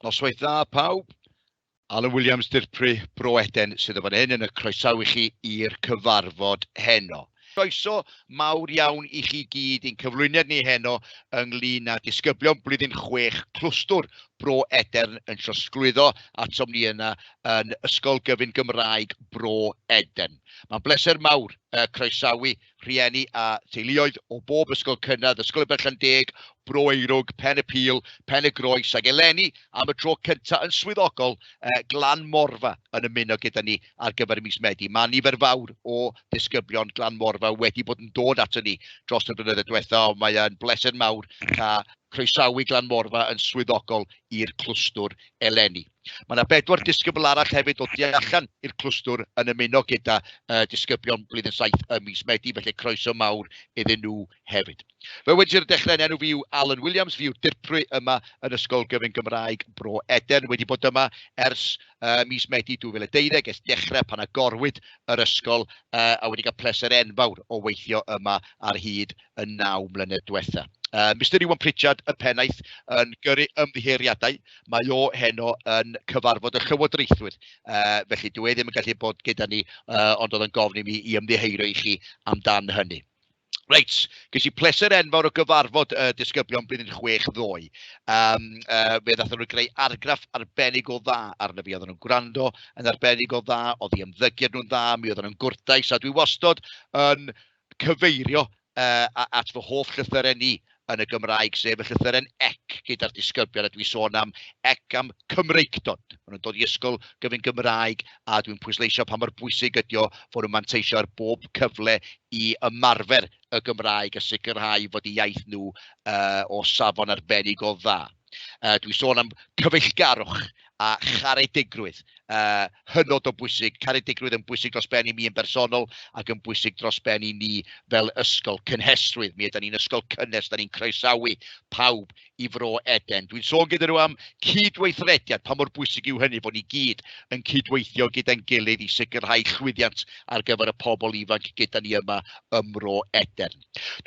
Noswaith dda pawb. Alan Williams, Dirprwy Bro Eden sydd o fan hyn yn y croesawu chi i'r cyfarfod heno. Croeso mawr iawn i chi gyd i'n cyflwyniad ni heno ynglyn â disgyblion blwyddyn chwech clwstwr Bro Edern yn trosglwyddo atom ni yna yn Ysgol Gyfun Gymraeg Bro Edern. Mae'n bleser mawr uh, croesawu rhieni a theuluoedd o bob ysgol cynradd, Ysgol y Berllan Deg, Bro Eirwg, Pen y Pil, Pen y Groes, ac eleni am y tro cyntaf yn swyddogol eh, Glan Morfa yn ymuno gyda ni ar gyfer y mis Medi. Mae nifer fawr o ddisgyblion Glan Morfa wedi bod yn dod ato ni dros y blynyddoedd diwetha, ond mae'n bleser mawr cael croesawu Glan Morfa yn swyddogol i'r clwstwr eleni. Mae yna bedwar disgybl arall hefyd o tu allan i'r clwstwr yn ymuno gyda uh, disgyblion blwyddyn saith ym mis Medi, felly croeso mawr iddyn nhw hefyd. Fe wedi i'r dechrau yn enw fi yw Alan Williams, fi yw dirprwy yma yn Ysgol Gyfyn Gymraeg Bro Edern, wedi bod yma ers uh, mis Medi 2012, es dechrau pan agorwyd yr ysgol uh, a wedi cael pleser enfawr o weithio yma ar hyd y naw mlynedd diwetha'. Yy Mister Iwan Pritchard y pennaeth yn gyrru ymddiheuriadau, mae o heno yn cyfarfod y llywodraethwyr, yy felly dyw e ddim yn gallu bod gyda ni, yy ond oedd o'n gofyn i mi i ymddiheurio i chi amdan hynny. Reit, ges i pleser enfawr o gyfarfod y uh, disgyblion blwyddyn chwech ddoe. Um, uh, fe ddathen nhw greu argraff arbennig o dda arno fi. Oedden nhw'n gwrando yn arbennig o dda, oedd i ymddygiad nhw'n dda, mi oedden nhw'n gwrtais, a dwi wastod yn cyfeirio at fy hoff llythyren i yn y Gymraeg, sef y llythyren ec gyda'r disgyblion, a dwi'n sôn am ec am Cymreictod. Maen nhw'n dod i ysgol gyfyng Gymraeg, a dwi'n pwysleisio pa mor bwysig ydi o fod nhw'n manteisio ar bob cyfle i ymarfer y Gymraeg a sicrhau fod eu iaith nhw o safon arbennig o dda. Yy dwi'n sôn am cyfeillgarwch a charedigrwydd. Yy hynod o bwysig, caredigrwydd yn bwysig dros ben i mi yn bersonol ac yn bwysig dros ben i ni fel ysgol. Cynhesrwydd, mi ydan ni'n ysgol cynnes, da ni'n croesawu pawb i Fro Eden. Dwi'n sôn gyda nhw am cydweithrediad, pa mor bwysig yw hynny bod ni gyd yn cydweithio gyda'n gilydd i sicrhau llwyddiant ar gyfer y pobl ifanc gyda ni yma ym Mro Eden.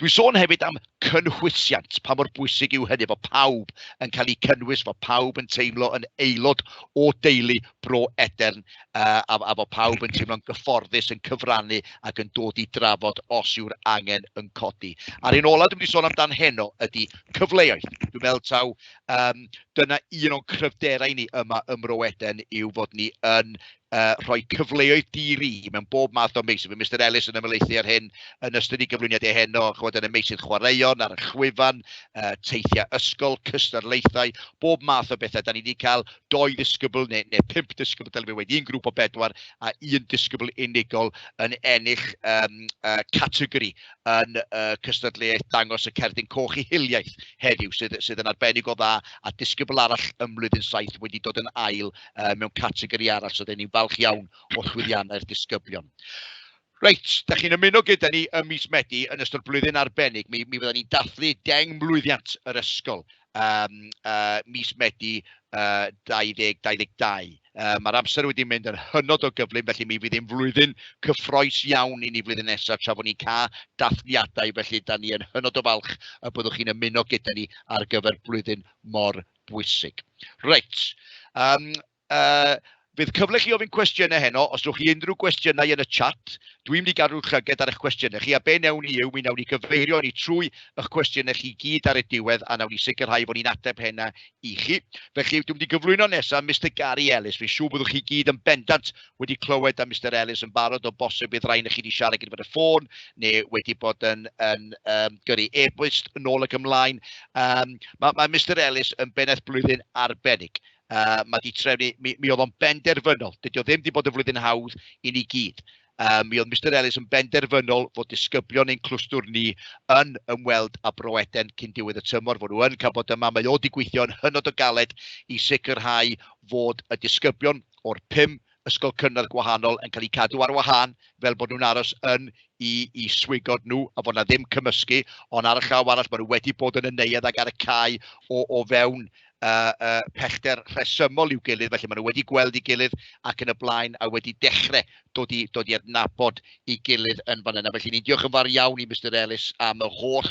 Dwi'n sôn hefyd am cynhwysiant, pa mor bwysig yw hynny, bod pawb yn cael eu cynnwys, bod pawb yn teimlo yn aelod o deulu Bro Edern uh, a, a bod pawb yn teimlo'n gyfforddus, yn cyfrannu ac yn dod i drafod os yw'r angen yn codi. A'r un olaf dwi'n mynd i sôn amdan heno ydy cyfleoedd. Dwi'n meddwl taw um, dyna un o'n cryfderau ni yma ym Mro Edern yw fod ni yn uh, rhoi cyfleoedd di-ri mewn bob math o meysydd. Mae Mr Ellis yn ymlaethu ar hyn yn ystod i gyflwyniad ei heno, chwod yn y meysydd chwaraeon, ar y chwyfan, uh, teithiau ysgol, cystadlaethau, bob math o bethau. Da ni wedi cael doi ddisgybl neu, neu pump ddisgybl, dylai wedi un grŵp o bedwar a un disgybl unigol yn ennill um, uh, categori yn uh, cystadleuaeth dangos y cerdyn coch i hiliaeth heddiw sydd, sydd yn arbennig o dda a disgybl arall ym mlwyddyn saith wedi dod yn ail yy mewn categori arall, so ry'n ni'n falch iawn o llwyddiannau'r disgyblion. Reit, da chi'n ymuno gyda ni ym mis Medi yn ystod blwyddyn arbennig. Mi, mi fydda ni'n dathlu deng mlwyddiant yr ysgol um, uh, mis Medi uh, 2022. Uh, Mae'r amser wedi mynd yn hynod o gyflym, felly mi fydd ein flwyddyn cyffroes iawn i ni flwyddyn nesaf tra fod ni'n cael dathliadau, felly da ni yn hynod o falch y byddwch chi'n ymuno gyda ni ar gyfer blwyddyn mor Bwysig. Reit. Um, uh, Bydd cyfle chi ofyn cwestiynau heno, os ydych chi unrhyw gwestiynau yn y chat, dwi'n mynd i gadw'r llyged ar eich cwestiynau chi, a be newn ni yw, mi newn ni gyfeirio ni trwy eich cwestiynau chi gyd ar y diwedd, a newn ni sicrhau fod ni'n ateb hena i chi. Felly, dwi'n mynd i gyflwyno nesaf Mr Gary Ellis, fi'n siŵr byddwch chi gyd yn bendant wedi clywed am Mister Ellis yn barod o bosib bydd rhain i chi wedi siarad gyda fod y ffôn neu wedi bod yn, yn um, gyrru e-bost yn ôl ac ymlaen. Um, mae, mae Mister Ellis yn bennaeth blwyddyn arbennig. Uh, mae di trefnu, mi, mi oedd o'n benderfynol, dydy o ddim wedi bod yn flwyddyn hawdd i ni gyd. Um, mi oedd Mister Ellis yn benderfynol fod disgyblion ein clwstwr ni yn ymweld â Bro Eden cyn diwedd y tymor, fod nhw yn cael bod yma. Mae o wedi gweithio'n hynod o galed i sicrhau fod y disgyblion o'r pum ysgol cynradd gwahanol yn cael eu cadw ar wahân fel bod nhw'n aros yn i, i swigod nhw a fod na ddim cymysgu, ond ar y llaw arall maen nhw wedi bod yn y neuadd ac ar y cae o, o fewn uh, uh, pellter rhesymol i'w gilydd, felly maen nhw wedi gweld ei gilydd ac yn y blaen a wedi dechrau dod i, dod i adnabod ei gilydd yn fan yna. Felly ni'n diolch yn fawr iawn i Mr Ellis am y holl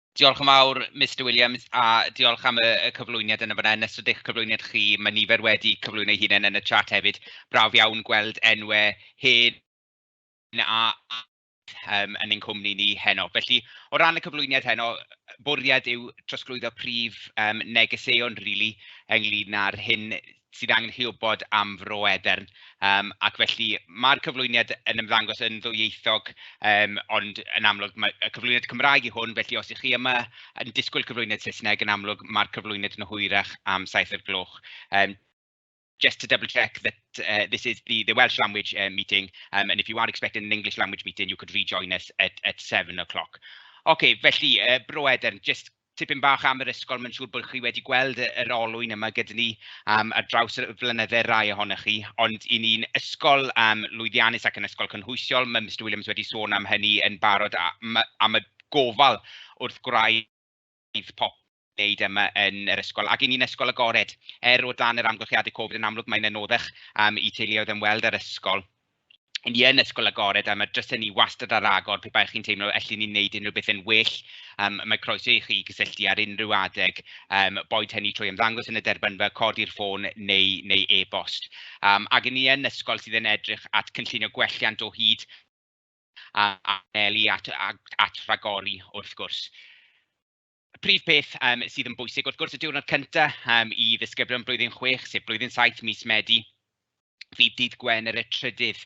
Diolch yn fawr, Mister Williams, a diolch am y y cyflwyniad yna fan'na. Yn ystod eich cyflwyniad chi, mae nifer wedi cyflwyno eu hunain yn y chat hefyd. Braf iawn gweld enwau hen a um, yn ein cwmni ni heno. Felly, o ran y cyflwyniad heno, bwriad yw trosglwyddo prif um, negeseuon, rili, really, ynglyn â'r hyn sydd angen hywybod am Fro Edern yym ac felly ma'r cyflwyniad yn ymddangos yn ddwyieithog yym ond yn amlwg ma' y cyflwyniad Cymraeg yw hwn felly os 'y chi yma yn disgwyl cyflwyniad Saesneg yn amlwg ma'r cyflwyniad yn hwyrach am saith o'r gloch yym just to double check that yy this is the the Welsh language yy meeting yym and if you are expecting an English language meeting you could rejoin us at at seven o' cloc. Ocê felly yy Bro Edern jyst tipyn bach am yr ysgol, mae'n siŵr bod chi wedi gweld y yr olwyn yma gyda ni yym ar draws y flynydde rai ohonoch chi, ond 'y ni'n ysgol yym lwyddiannus ac yn ysgol cynhwysiol, ma' Mister Williams wedi sôn am hynny yn barod a ma' a ma' gofal wrth gwraidd popeth wneud yma yn yr ysgol, ac 'y ni'n ysgol agored. Er o dan yr amgylchiadau Covid yn amlwg mae'n anoddach yym i teuluoedd ymweld â'r ysgol. 'y ni yn ysgol agored a ma' drysau ni wastad ar agor pe bai chi'n teimlo allen ni wneud unrhyw beth yn well, yym mae croeso i chi gysylltu ar unrhyw adeg, yym boed hynny trwy ymddangos yn y derbynfa, codi'r ffôn neu neu e-bost. Yym ac 'y ni yn ysgol sydd yn edrych at cynllunio gwelliant o hyd a anelu at at ragori wrth gwrs. Y prif peth yym sydd yn bwysig wrth gwrs y diwrnod cynta' yym i ddisgyblion blwyddyn chwech, sef blwyddyn saith mis Medi, fydd dydd Gwener y trydydd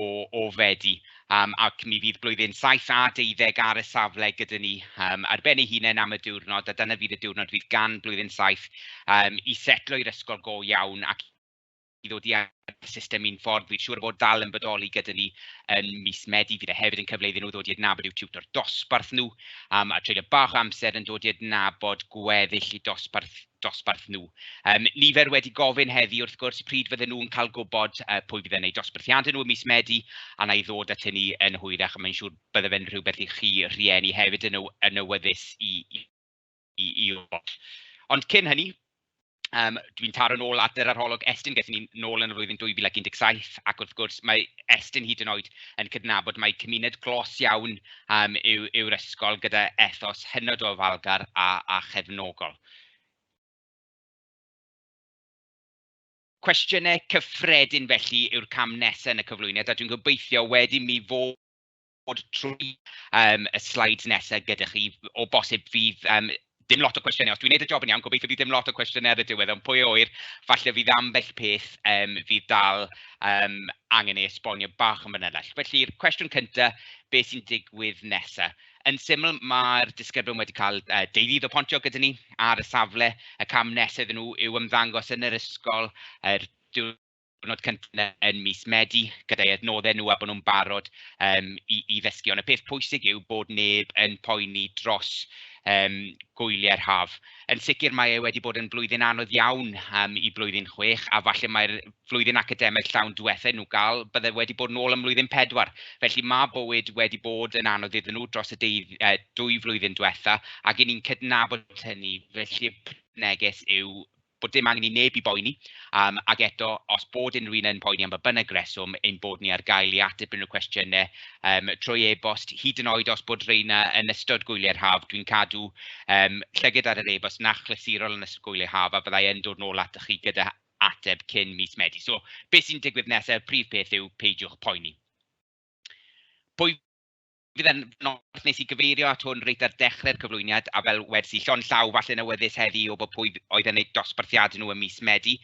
o o Fedi yym ac mi fydd blwyddyn saith a deuddeg ar y safle gyda ni yym ar ben ei hunain am y diwrnod a dyna fydd y diwrnod fydd gan blwyddyn saith yym i setloi'r ysgol go iawn ac i ddod i adnabod y system mewn ffordd, fi'n siŵr o fod dal yn bodoli gyda ni yn mis Medi, fydd e hefyd yn cyfle iddyn nhw ddod i adnabod i'w tiwtor dosbarth nhw, um, a treulio bach o amser yn dod i adnabod gweddill i dosbarth, dosbarth nhw. Um, nifer wedi gofyn heddi wrth gwrs pryd fydden nhw'n cael gwybod uh, pwy fydd yn eu dosbarthiadau nhw ym mis Medi, a na i ddod at hynny yn hwyrach, a mae'n siŵr bydde fe'n rhywbeth i chi rhieni hefyd yn, yn awyddus i, i i i Watch. Ond cyn hynny, yym dwi'n taro'n ôl at yr arholwg Estyn, gaethon ni nôl yn y flwyddyn 2017, ac wrth gwrs mae Estyn hyd yn oed yn cydnabod mai cymuned glos iawn yym yw yw'r ysgol gyda ethos hynod o ofalgar a a chefnogol. Cwestiynau cyffredin felly yw'r cam nesaf yn y cyflwyniad, a dwi'n gobeithio wedyn mi fod dod trwy yym y slides nesa' gyda chi, o bosib fydd yym dim lot o cwestiynau. Os dwi'n wneud y job yn iawn, gobeithio bydd dim lot o cwestiynau ar y diwedd, ond pwy a ŵyr, falle fydd ambell peth yym fydd dal yym angen ei esbonio bach yn fanylach. Felly'r cwestiwn cynta, be sy'n digwydd nesa'? Yn syml, mae'r disgyblion wedi cael yy deuddydd o Pontio gyda ni ar y safle, y cam nesa' iddyn nhw yw ymddangos yn yr ysgol yr diwrnod diwrnod cyntaf yn mis Medi gyda'i adnoddau nhw a bod nhw'n barod um, i, i ddysgu. Ond y peth pwysig yw bod neb yn poeni dros um, gwyliau'r haf. Yn sicr mae e wedi bod yn blwyddyn anodd iawn um, i blwyddyn chwech a falle mae'r flwyddyn academaidd llawn diwethaf nhw gael bydde wedi bod yn ôl ym mlwyddyn pedwar. Felly mae bywyd wedi bod yn anodd iddyn nhw dros y deudd, uh, dwy flwyddyn diwethaf ac i ni'n cydnabod hynny. Felly y neges yw bod dim angen i neb i boeni am, ac eto, os bod unrhyw un yn poeni am ba bynnag reswm, ein bod ni ar gael i ateb unrhyw cwestiynau yym trwy e-bost, hyd yn oed os bod rheina yn ystod gwyliau'r haf, dwi'n cadw yym llygad ar yr e-bost 'na achlysurol yn ystod gwyliau haf, a fydda i yn dod nôl atoch chi gyda ateb cyn mis Medi. So be sy'n digwydd nesaf, y prif peth yw peidiwch poeni. Pwy fydd e'n nos wnes i gyfeirio at hwn reit ar dechrau'r cyflwyniad, a fel wedes i, llond llaw falle'n awyddus heddi i wybod pwy oedd yn eu dosbarthiadau nhw ym mis Medi.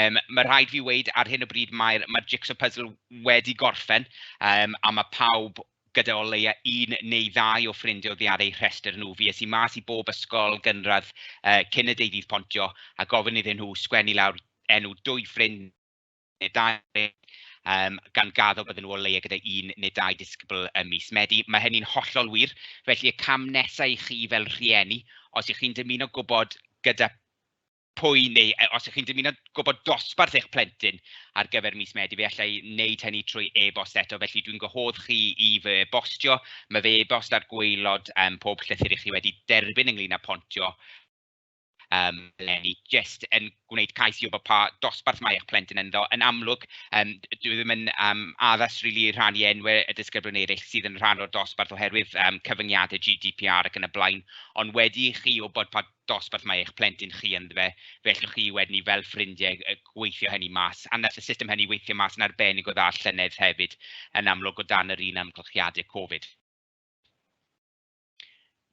Yym ma' rhaid fi weud ar hyn o bryd mae'r mae'r jigsaw puzzle wedi gorffen yym a ma' pawb gyda o leia un neu ddau o ffrindiau oddi ar eu rhestr nhw. Fues i mas i bob ysgol gynradd yy cyn y deu ddydd pontio a gofyn iddyn nhw sgwennu lawr enw dwy ffrind neu dau yym gan gaddo bydden nhw o leia' gyda un neu dau disgybl ym mis Medi. Ma' hynny'n hollol wir, felly y cam nesa' i chi fel rhieni, os 'y chi'n dymuno gwbod gyda pwy neu yy os 'y chi'n dymuno gwbod dosbarth eich plentyn ar gyfer mis Medi, fe alla i wneud hynny trwy e-bost eto, felly dwi'n gwahodd chi i fy e-bostio. Ma' fy e-bost ar gwaelod yym pob llythyr 'y chi wedi derbyn ynglŷn â Pontio. yym le ni jyst yn gwneud cais i wybod pa dosbarth mae eich plentyn ynddo. Yn amlwg yym dyw e ddim yn yym addas rili i rhannu enwau y disgyblion eraill sydd yn rhan o'r dosbarth oherwydd yym cyfyngiadau GDPR ac yn y blaen, ond wedi i chi wybod pa dosbarth mae eich plentyn chi ynddo fe, fe allwch chi wedyn i fel ffrindiau yy gweithio hynny mas, a wnaeth y system hynny weithio mas yn arbennig o dda llynedd hefyd yn amlwg o dan yr un amgylchiadau Covid.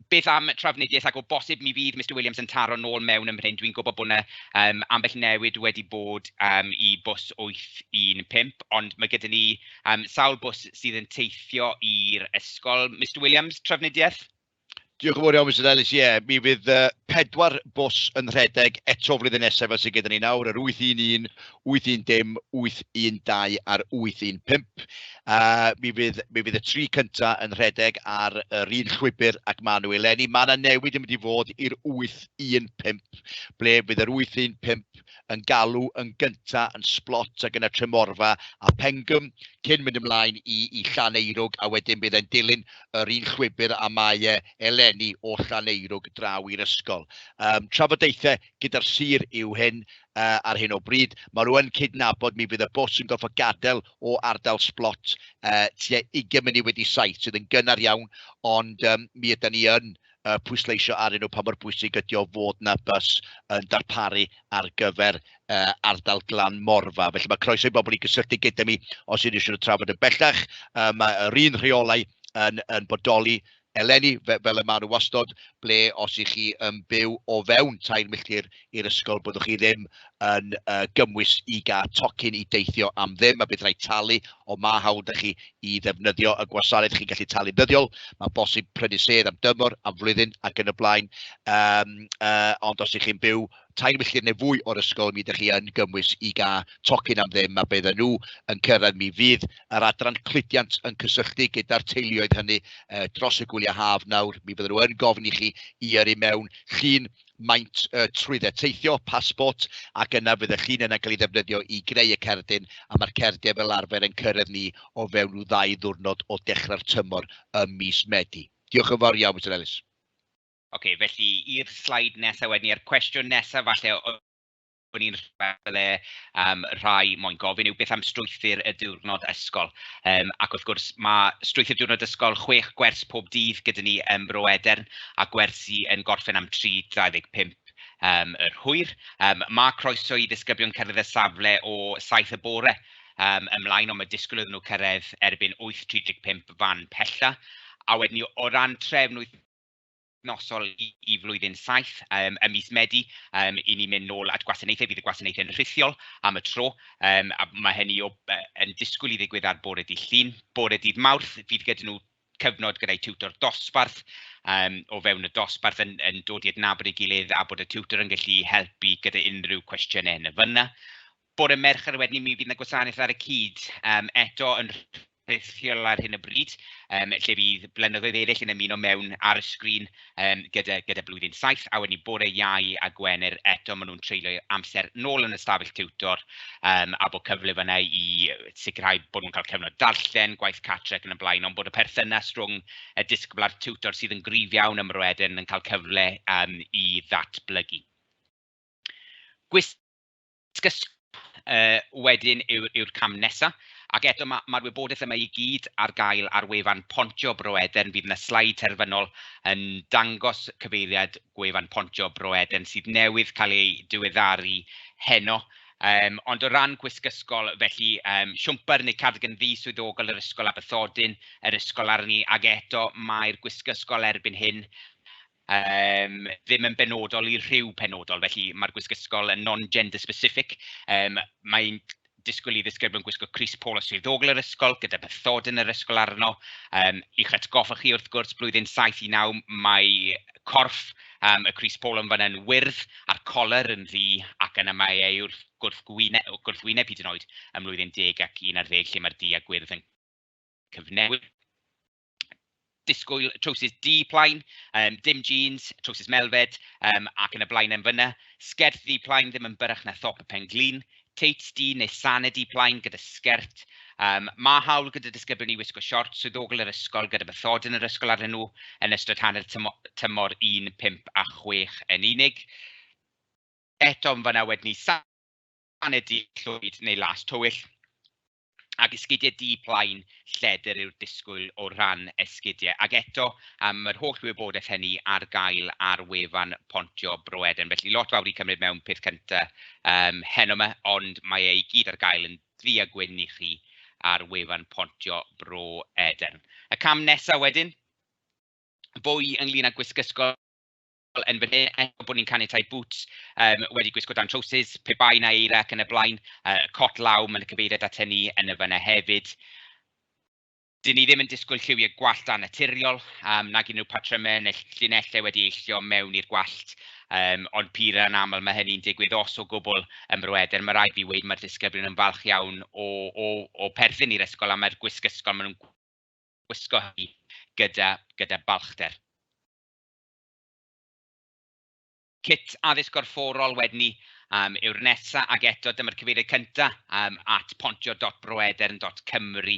Beth am Trafnidiaeth ac o bosib mi fydd Mister Williams yn taro nôl mewn ym mhen, dwi'n gwybod bod 'na yym ambell newid wedi bod yym i bws 815, ond ma' gyda ni yym sawl bws sydd yn teithio i'r ysgol. Mister Williams, Trafnidiaeth? Diolch yn fawr iawn Mister Ellis, ie mi fydd yy pedwar bws yn rhedeg eto flwyddyn nesaf fel sydd gyda ni nawr, yr 811, 810, 812 a'r 815. Uh, mi, fydd, mi fydd y tri cynta yn rhedeg ar yr un llwybr ac maen nhw eleni. Mae yna newid yn mynd i fod i'r 815, ble fydd yr 815 yn galw yn gynta yn Splot ac yna Tremorfa a Pengym, cyn mynd ymlaen i, i Llaneirwg, a wedyn bydd e'n dilyn yr un llwybr a mae e eleni o Llaneirwg draw i'r ysgol. Um, trafodaethau gyda'r sir yw hyn uh, ar hyn o bryd. Mae rhywun yn cydnabod mi fydd y bws yn gorfod gadael o ardal Splot uh, tua 20 munud wedi saith sydd yn gynnar iawn, ond um, mi ydy ni yn uh, pwysleisio ar nhw pa mor bwysig ydy o fod na bus yn darparu ar gyfer uh, ardal glan morfa. Felly mae croeso i bobl i gysylltu gyda mi os ydych chi'n trafod yn bellach. Uh, mae yr un rheolau yn, yn bodoli eleni, fe- fel y maen nhw wastod, ble os ych chi yn byw o fewn tair milltir i'r ysgol, byddwch chi ddim yn uh, gymwys i gael tocyn i deithio am ddim, a bydd rhaid talu, ond mae hawl da chi i ddefnyddio y gwasanaeth chi'n gallu talu ddyddiol, mae bosib prynu sedd am dymor, am flwyddyn ac yn y blaen, um, uh, ond os ych chi'n byw tair milltir neu fwy o'r ysgol, mi ydych chi yn gymwys i gael tocyn am ddim, a bydd yn nhw yn cyrraedd. Mi fydd yr adran cludiant yn cysylltu gyda'r teuluoedd hynny uh, dros y gwyliau haf nawr. Mi fydden nhw yn gofyn i chi i yrru mewn llun maint uh, trwydde teithio, pasbort, ac yna fydde chi'n yna cael ei ddefnyddio i greu y cerdyn, a mae'r cerdyn fel arfer yn cyrraedd ni o fewn nhw ddau ddwrnod o dechrau'r tymor ym mis Medi. Diolch yn fawr iawn, Mr Ellis. Ocê, felly i'r sleid nesa wedyn ni, a'r cwestiwn nesa falle o- o'n i'n falle yym rhai moyn gofyn yw beth am strwythur y diwrnod ysgol? Yym ac wrth gwrs ma' strwythur diwrnod ysgol chwech gwers pob dydd gyda ni ym Mro Edern, a gwersi yn gorffen am 3:25 yym yr hwyr. Yym ma' croeso i ddisgyblion cyrraedd y safle o saith y bore yym ymlaen, ond ma' disgwyl iddyn nhw cyrraedd erbyn 8:35 fan pella. A wedyn ni o ran trefn wyth- wythnosol i i flwyddyn saith yym ym mis Medi yym 'y ni'n mynd nôl at gwasanaethau, bydd y gwasanaethau'n rhithiol am y tro yym a ma' hynny o- yy yn disgwyl i ddigwydd ar bore dydd Llun. Bore dydd Mawrth fydd gyda nhw cyfnod gyda'i tiwtor dosbarth yym o fewn y dosbarth yn yn dod i adnabod ei gilydd a bod y tiwtor yn gallu helpu gyda unrhyw cwestiynau yn y fan'na. Bore Mercher wedyn i mi fydd 'na gwasanaeth ar y cyd yym eto yn rhithiol ar hyn o bryd, yym lle fydd blynyddoedd eraill yn ymuno mewn ar y sgrin yym gyda gyda blwyddyn saith, a wedyn bore Iau a Gwener eto maen nhw'n treulio amser nôl yn y stafell tiwtor yym a bod cyfle fan'na i sicrhau bod nhw'n cael cyfnod darllen, gwaith cartre ac yn y blaen, ond bod y perthynas rhwng y disgybl a'r tiwtor sydd yn gryf iawn ym Mro Edern yn cael cyfle yym i ddatblygu. Gwis Sgyrsiau yy wedyn yw'r yw'r cam nesa, ac eto ma' ma'r wybodaeth yma i gyd ar gael ar wefan Pontio Bro Eden, fydd 'na sleid terfynol yn dangos cyfeiriad gwefan Pontio Bro Eden sydd newydd cael ei diweddaru heno. Yym ond o ran gwisg ysgol felly yym siwmper neu cardigan ddu swyddogol yr ysgol a bathodyn yr ysgol arni ac eto mae'r gwisg ysgol erbyn hyn yym ddim yn benodol i rhyw penodol, felly ma'r gwisg ysgol yn non-gender specific yym mae'n disgwyl i ddisgyblion gwisgo crys polo swyddogol yr ysgol gyda bathodyn yr ysgol arno. Yym i'ch atgoffa chi wrth gwrs blwyddyn saith i naw mae corff yym y crys polo yn fan'na yn wyrdd a'r colur yn ddu ac yna mae e yw'r gwrthgwyne- gwrthwyneb hyd yn oed ym mlwyddyn deg ac un ar ddeg lle mae'r du a gwyrdd yn cyfnewid. disgwyl trowsus du plaen, yym dim jîns, trowsus melfed yym ac yn y blaen yn fan'na. Sgert ddu plaen ddim yn byrrach na thop y pen-glin. Teits du neu sanau du plaen gyda sgert. Yym ma' hawl gyda disgyblion i wisgo siorts swyddogol yr ysgol gyda bathodyn yr ysgol arnyn nhw yn ystod hanner tymo- tymor un, pump a chwech yn unig. Eto yn fan'na wedyn ni sa- sanau du llwyd neu las tywyll. ac esgidiau du plaen lledr yw'r disgwyl o ran esgidiau. Ac eto, um, mae'r holl wybodaeth hynny ar gael ar wefan Pontio Bro Eden. Felly lot fawr i cymryd mewn peth cyntaf um, heno yma, ond mae ei gyd ar gael yn ddu a gwyn i chi ar wefan Pontio Bro Eden. Y cam nesaf wedyn, fwy ynglyn â gwisg ysgol fel yn fan hyn, eto bod ni'n caniatáu bŵts yym wedi gwisgo dan trowsus, pe bai 'na eira ac yn y blaen, yy cot law, ma' 'na cyfeiriad ato ni yn y fan'na hefyd. 'Dyn ni ddim yn disgwyl lliwiau gwallt annaturiol, yym nag unrhyw patrymau neu ll- llinellau wedi eillio mewn i'r gwallt, yym ond pur anaml ma' hynny'n digwydd os o gwbl ym Mro Edern. Ma' raid fi weud ma'r disgyblion yn falch iawn o o o perthyn i'r ysgol a ma'r gwisg ysgol ma' nhw'n gwisgo hynny gyda gyda balchder. Cyt Addysg Gorfforol wedyn 'ny yym yw'r nesa', ac eto dyma'r cyfeiriad cynta' yym at pontio.broedern.cymru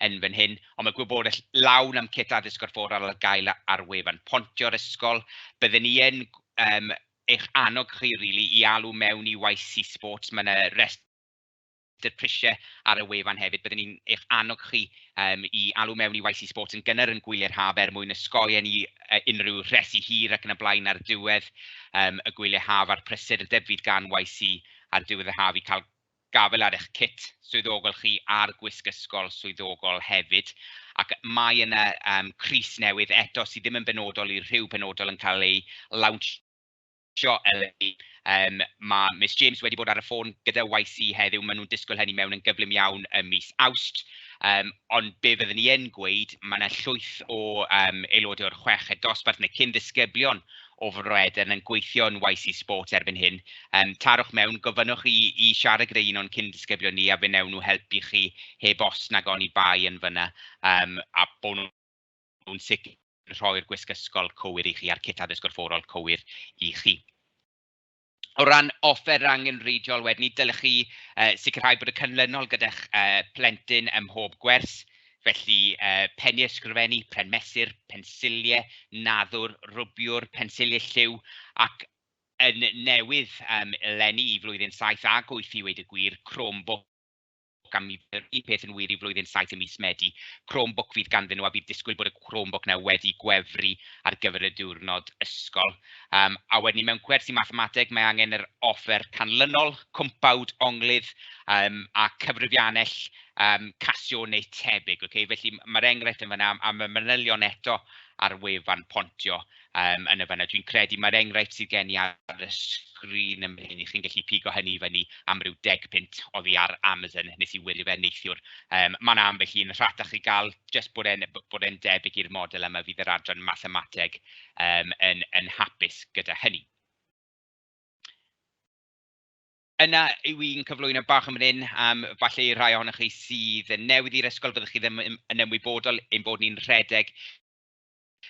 yn fan hyn. Ond ma' gwybodaeth lawn am Cyt Addysg Gorfforol ar gael ar wefan Pontio'r ysgol. Bydden ni yn yym eich annog chi rili i alw mewn i YC Sports, ma' 'na restr 'dy'r prisiau ar y wefan hefyd, byddwn ni'n eich annog chi yym i alw mewn i YC Sports yn gynnar yn gwyliau'r haf er mwyn osgoi i ni yy unrhyw resi hir ac yn y blaen ar ddiwedd yym y gwyliau haf a'r prysur y debwyd gan YC ar ddiwedd y haf i cael gafael ar eich cit swyddogol chi a'r gwisg ysgol swyddogol hefyd. Ac mae yna yym crys newydd eto sydd ddim yn benodol i rhyw penodol yn cael ei lawnsio Tjo Eleni. Yym ma' Miss James wedi bod ar y ffôn gyda YC heddiw, maen nhw'n disgwyl hynny mewn yn gyflym iawn ym mis Awst. Yym ond be fyddwn i yn gweud, ma' 'na llwyth o yym aelodau o'r chweched dosbarth neu cyn ddisgyblion o Fro Edern yn gweithio yn YC Sport erbyn hyn. Yym tarwch mewn, gofynnwch i i siarad gyda un o'n cyn ddisgyblion ni a fe wnewn nhw helpu chi heb os nag oni bai yn fan'na yym a bod nhw'n nhw'n sicr yn rhoi'r gwisg ysgol cywir i chi a'r cit addysg gorfforol cywir i chi. O ran offer angenrheidiol wedyn ni, dylech chi uh, sicrhau bod y canlynol gyda'ch uh, plentyn ym mhob gwers, felly uh, penni ysgrifennu, pren mesur, pensiliau, naddwr, rwbiwr, pensiliau lliw, ac yn newydd um, lenni i flwyddyn 7 a 8 i weid y gwir, Chromebook gan mi fydd yr un peth yn wir i flwyddyn saith ym mis Medi. Chromebook fydd ganddyn nhw a bydd disgwyl bod y Chromebook 'na wedi gwefru ar gyfer y diwrnod ysgol. Um, a wedyn mewn gwersi mathemateg mae angen yr offer canlynol, cwmpawd, onglydd um, a cyfrifiannell um, casio neu tebyg. Okay? Felly mae'r enghraifft yn fanna a mae manylion eto ar wefan Pontio yym yn y fan'na. Dwi'n credu mai'r enghraifft sydd gen i ar y sgrin yn fan hyn, 'y chi'n gallu pigo hynny i fyny am ryw deg punt oddi ar Amazon, wnes i wylio fe neithiwr. Yym ma' 'na ambell un rhatach i gael, jyst bod e'n b- bod e'n debyg i'r model yma, fydd yr adran mathemateg yym yn yn hapus gyda hynny. Yna yw un cyflwyno bach yn fan hyn am falle i'r rhai ohonoch chi sydd yn newydd i'r ysgol, fyddwch chi ddim yn yn ymwybodol ein bod ni'n rhedeg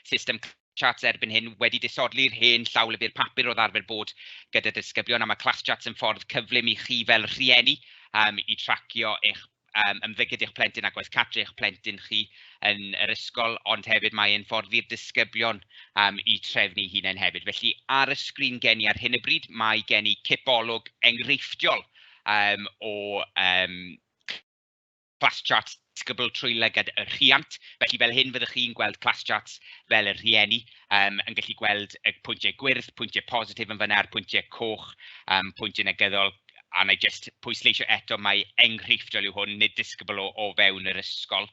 system Classchart erbyn hyn wedi disodli'r hen llawlyfr papur oedd arfer bod gyda disgyblion, a ma' Classchart yn ffordd cyflym i chi fel rhieni yym i tracio eich yym ymddygiad eich plentyn a gwaith cartre eich plentyn chi yn yr ysgol, ond hefyd mae e'n ffordd i'r disgyblion yym eu trefnu eu hunain hefyd. Felly ar y sgrin gen i ar hyn o bryd, mae gen i cipolwg enghreifftiol yym o yym class charts disgybl trwy lygad y rhiant. Felly fel hyn fyddwch chi'n gweld class charts fel y rhieni yym yn gallu gweld y pwyntiau gwyrdd, pwyntiau positif yn fan'na a'r pwyntiau coch yym pwyntiau negyddol a wna i jyst pwysleisio eto mai enghreifftiol yw hwn, nid disgybl o o fewn yr ysgol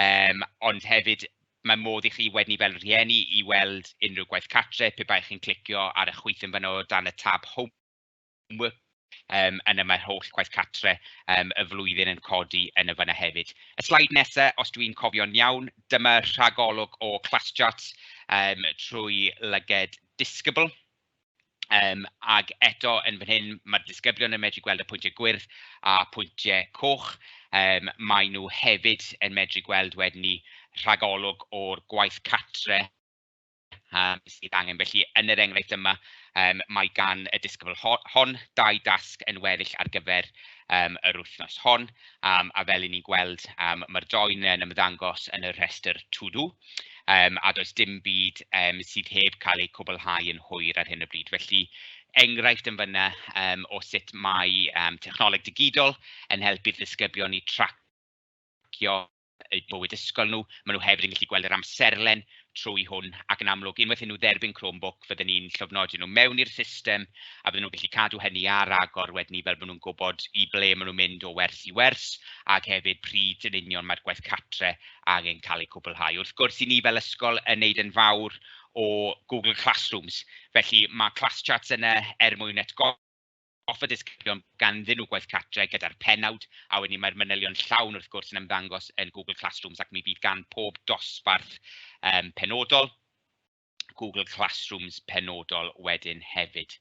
yym ond hefyd mae modd i chi wedyn i fel rhieni i weld unrhyw gwaith cartre pe baech chi'n clicio ar y chwith yn fan'na o dan y tab Home Wwp. Yym yna mae'r holl gwaith cartre yym y flwyddyn yn codi yn y fan'na hefyd. Y sleid nesa, os dwi'n cofio'n iawn, dyma rhagolwg o Classcharts yym trwy lyged Discable. Yym ac eto yn fan hyn, ma'r disgyblion yn medru gweld y pwyntiau gwyrdd a pwyntiau coch. Yym maen nhw hefyd yn medru gweld wedyn 'ny rhagolwg o'r gwaith cartre. yym sydd angen. Felly, yn yr enghraifft yma, yym mae gan y disgybl ho- hon dau dasg yn weddill ar gyfer yym yr wythnos hon, yym a fel 'y ni'n gweld, yym ma'r join yn ymddangos yn y rhestr to do, yym a does dim byd yym sydd heb cael eu cwblhau yn hwyr ar hyn o bryd. Felly, enghraifft yn fan'na yym o sut mae yym technoleg digidol yn helpu'r disgyblion i tracio eu bywyd ysgol nhw. Maen nhw hefyd yn gallu gweld yr amserlen trwy hwn ac yn amlwg unwaith iddyn nhw dderbyn Chromebook fydden ni'n llofnodi nhw mewn i'r system a fydden nhw'n gallu cadw hynny ar agor wedyn ni fel bod nhw'n gwybod i ble maen nhw'n mynd o wers i wers ac hefyd pryd yn union mae'r gwaith cartre angen cael eu cwblhau. Wrth gwrs i ni fel ysgol yn wneud yn fawr o Google Classrooms felly ma' Classcharts yna er mwyn atgoffa offer disgyblion ganddyn nhw gwaith cartre gyda'r pennawd, a wedyn mae'r manylion llawn wrth gwrs yn ymddangos yn Google Classrooms ac mi fydd gan pob dosbarth um, penodol Google Classrooms penodol wedyn hefyd.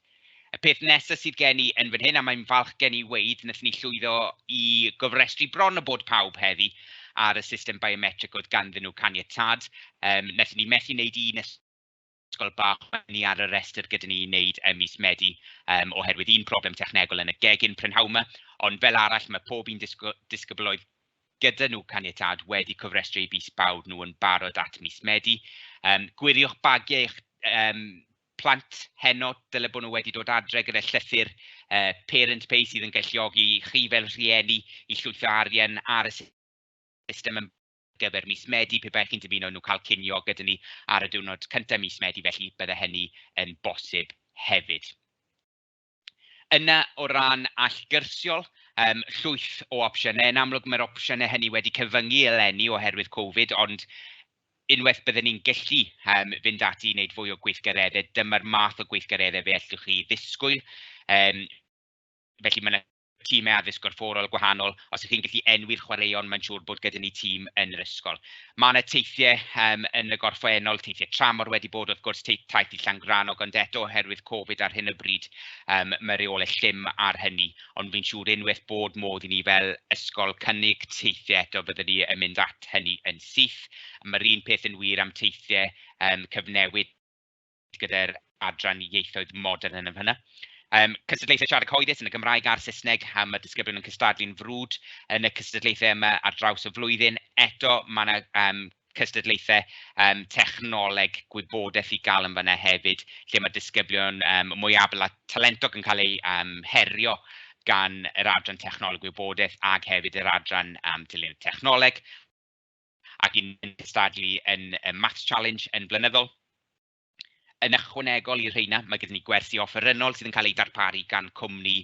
Y peth nesaf sydd gen i yn fan hyn, a mae'n falch gen i weid, wnaethon ni llwyddo i gofrestru bron o bod pawb heddi ar y system biometric oedd ganddyn nhw caniatad. Um, wnaethon ni methu wneud un ysgol bach oedd ni ar y rhestr gyda ni i wneud ym mis Medi yym oherwydd un problem technegol yn y gegin prynhawn 'ma, ond fel arall ma' pob un disgy- disgybl oedd gyda nhw caniatâd wedi cofrestru eu busbawd nhw yn barod at mis Medi. Yym gwiriwch bagiau eich yym plant heno, dyle bod nhw wedi dod adre gyda llythyr yy parent pay sydd yn galluogi chi fel rhieni i llwytho arian ar y system yn gyfer mis Medi, pe baech chi'n dymuno nhw cael cinio gyda ni ar y diwrnod cyntaf mis Medi, felly bydde hynny yn bosib hefyd. Yna, o ran allgyrsiol, um, llwyth o opsiynau. Yn amlwg, mae'r opsiynau hynny wedi cyfyngu eleni oherwydd Covid, ond unwaith byddwn ni'n gallu um, fynd ati i wneud fwy o gweithgareddau, dyma'r math o gweithgareddau fe allwch chi ddisgwyl. Um, felly mae yna timau addysg gorfforol gwahanol, os 'y chi'n gallu enwi'r chwaraeon mae'n siŵr bod gyda ni tîm yn yr ysgol. Mae 'na teithiau yym yn y gorffennol, teithiau tramor wedi bod wrth gwrs, tei- taith i Llangrannog, ond eto oherwydd Covid ar hyn o bryd yym mae reolau llym ar hynny, ond fi'n siŵr unwaith bod modd i ni fel ysgol cynnig teithiau eto byddwn ni yn mynd at hynny yn syth. Mae'r un peth yn wir am teithiau yym cyfnewid gyda'r adran ieithoedd modern yn y fan'na. Yym cystadlaethau siarad cyhoeddus yn y Gymraeg a'r Saesneg, a ma' disgyblion yn cystadlu'n frwd yn y cystadlaethau yma ar draws y flwyddyn. Eto ma' 'na yym cystadlaethau yym technoleg gwybodaeth i gael yn fan'na hefyd, lle ma' disgyblion yym mwy abl a talentog yn cael eu yym herio gan yr adran technoleg gwybodaeth ac hefyd yr adran yym dylunio technoleg. ac un yn cystadlu yn y Maths Challenge yn flynyddol. Yn ychwanegol i'r rheina, mae gyda ni gwersi offerynnol sydd yn cael eu darparu gan cwmni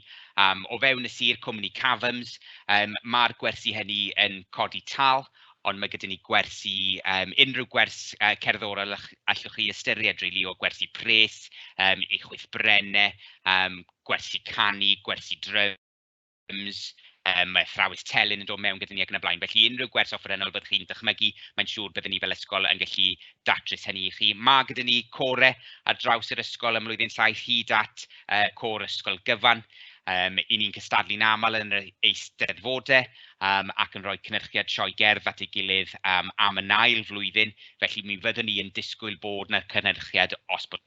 um, o fewn y sir, cwmni Cavums. Um, Mae'r gwersi hynny yn codi tal, ond mae gyda ni gwersi, um, unrhyw gwers uh, cerddorol allwch chi ystyried rili really, o gwersi pres, um, eich wyth brenne, um, gwersi canu, gwersi dryf, Teams, yym mae athrawes telyn yn dod mewn gyda ni ac yn y blaen. Felly unrhyw gwers offerynnol fyddwch chi'n dychmygu, mae'n siŵr bydden ni fel ysgol yn gallu datrys hynny i chi. Ma' gyda ni core ar draws yr ysgol ym mlwyddyn saith hyd at yy core ysgol gyfan, yym 'y ni'n cystadlu'n aml yn yr Eisteddfodau yym ac yn rhoi cynyrchiad sioe gerdd at ei gilydd yym am yn ail flwyddyn, felly mi fyddwn ni yn disgwyl bod 'na cynhyrchiad os bod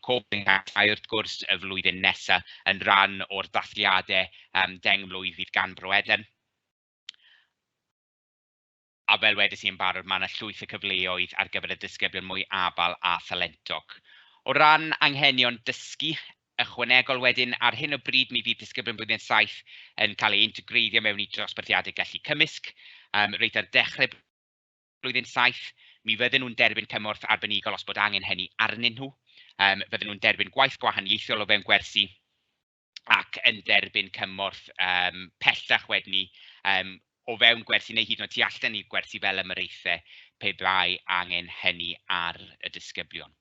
Coping Act a wrth gwrs y flwyddyn nesaf yn rhan o'r dathliadau um, deng mlwydd fydd gan Bro Eden. A fel wedys i yn barod, mae yna llwyth o cyfleoedd ar gyfer y disgyblion mwy abal a thalentog. O ran anghenion dysgu, ychwanegol wedyn, ar hyn o bryd mi fydd disgyblion blwyddyn 7 yn cael ei integreiddio mewn i drosbarthiadau gallu cymysg, um, reit ar dechrau blwyddyn saith, mi fydden nhw'n derbyn cymorth arbenigol os bod angen hynny arnyn nhw, yym fydden nhw'n derbyn gwaith gwahaniaethol o fewn gwersi ac yn derbyn cymorth yym pellach wedyn 'ny yym o fewn gwersi neu hyd yn oed tu allan i gwersi fel ymyraethau pe bai angen hynny ar y disgyblion.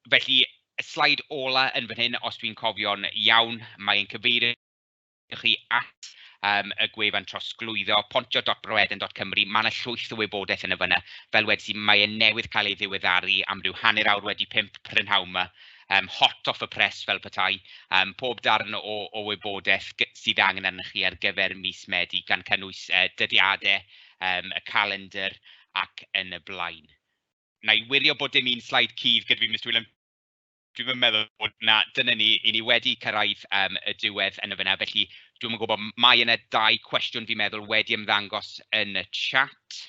Felly, y sleid ola yn fan hyn, os dwi'n cofio'n iawn, mae'n cyfeirio Dewch chi at yym y gwefan trosglwyddo, pontio.broeden.cymru, mae 'na llwyth o wybodaeth yn y fan'na. Fel wedais i, mae e newydd cael ei ddiweddaru am ryw hanner awr wedi pump prynhawn 'ma, yym hot off the press fel petai. Yym pob darn o o wybodaeth g- sydd angen arnoch chi ar gyfer mis Medi, gan cynnwys yy dyddiadau, yym y calendr ac yn y blaen. Wna i wirio bod dim un sleid cudd gyda fi, Mister Whelan. dwi'm yn meddwl bod 'na... dyna ni, 'y ni wedi cyrraedd yym y diwedd yn y fan'na, felly dwi'm yn gwybod, mae yna dau cwestiwn fi'n meddwl wedi ymddangos yn y chat.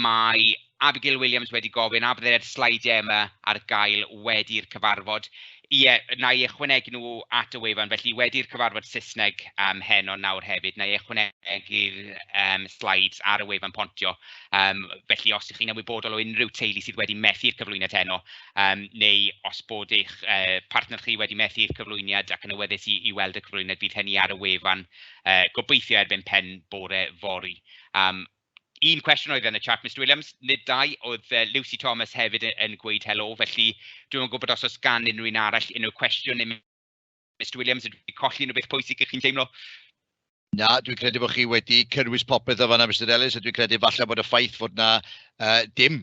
Mae Abigail Williams wedi gofyn, a bydde'r sleidiau yma ar gael wedi'r cyfarfod? Ie, wna i ychwanegu nhw at y wefan. Felly, wedi'r cyfarfod Saesneg yym heno nawr hefyd, wna i ychwanegu'r yym slides ar y wefan Pontio. Yym felly, os 'y chi'n ymwybodol o unrhyw teulu sydd wedi methu i'r cyflwyniad heno, yym neu os bod eich yy partner chi wedi methu i'r cyflwyniad ac yn awyddus i i weld y cyflwyniad, bydd hynny ar y wefan yy gobeithio erbyn pen bore fory. Un cwestiwn oedd yn y chat Mister Williams, nid dau, oedd yy Lucy Thomas hefyd yy yn gweud helo, felly dwi'm yn gwybod os oes gan unrhyw un arall unrhyw cwestiwn i Mister Williams, ydw i'n colli unrhyw beth pwysig ydych chi'n teimlo? Na, dwi'n credu bod chi wedi cynnwys popeth yn fan'na Mister Ellis a dwi'n credu falle bod y ffaith fod 'na yy dim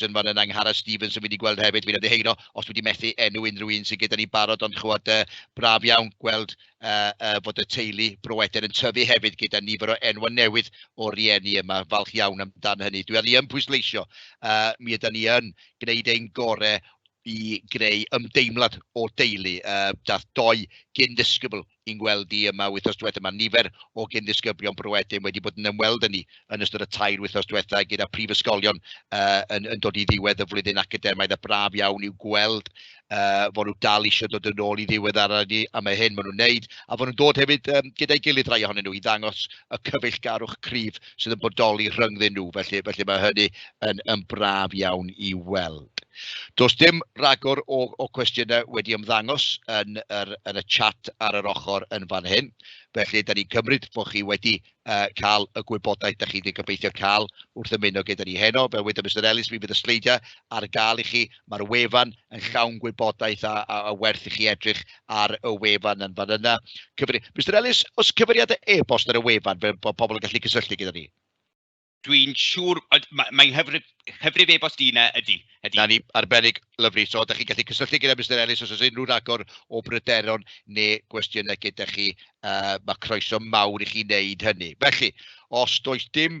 Johnson, fan yna, Angharad Stevens yn mynd i gweld hefyd, fi'n ymddiheuro os dwi wedi methu enw unrhyw un sydd gyda ni barod, ond chimod, uh, braf iawn gweld uh, uh, fod y teulu broeder yn tyfu hefyd gyda nifer o enwau newydd o rieni yma, falch iawn amdano hynny. Dwi ar i yn pwysleisio, uh, mi yda ni yn gwneud ein gorau i greu ymdeimlad o deulu. Uh, dath doi gyn ddisgybl i'n gweld ni yma wythnos diwetha', ma' nifer o gyn-ddisgyblion Bro Edyn wedi bod yn ymweld â ni yn ystod y tair wythnos diwetha' gyda prifysgolion yy yn yn dod i ddiwedd y flwyddyn academaidd a braf iawn i'w gweld yy fod nhw dal isio dod yn ôl i ddiweddaru ni am y hyn maen nhw'n wneud, a fod nhw'n dod hefyd yym gyda'i gilydd rhai ohonyn nhw i ddangos y cyfeillgarwch cryf sydd yn bodoli rhyngddyn nhw. Felly, felly mae hynny yn, yn braf iawn i weld. Does dim rhagor o, o cwestiynau wedi ymddangos yn, yr, yn y chat ar yr ochr yn fan hyn. Felly, da ni'n cymryd bod chi wedi uh, cael y gwybodaeth da chi wedi gobeithio cael wrth ymuno gyda ni heno. Fel wedi Mr Ellis, mi fydd y sleidiau ar gael i chi Mae'r wefan yn llawn gwybodaeth a, a, a werth i chi edrych ar y wefan yn fan yna. Cyfri... Mr Ellis, os cyfeiriadau e-bost ar y wefan fel bod pobl yn gallu cysylltu gyda ni? Dwi'n siŵr, mae, mae hyfrif, hyfrif e-bost i yna ydy. ydy. Na ni, arbennig, lyflu. So, da chi'n gallu cysylltu gyda Mr Ellis os oes unrhyw ragor o bryderon neu gwestiynau gyda chi. Uh, mae croeso mawr i chi wneud hynny. Felly, os does dim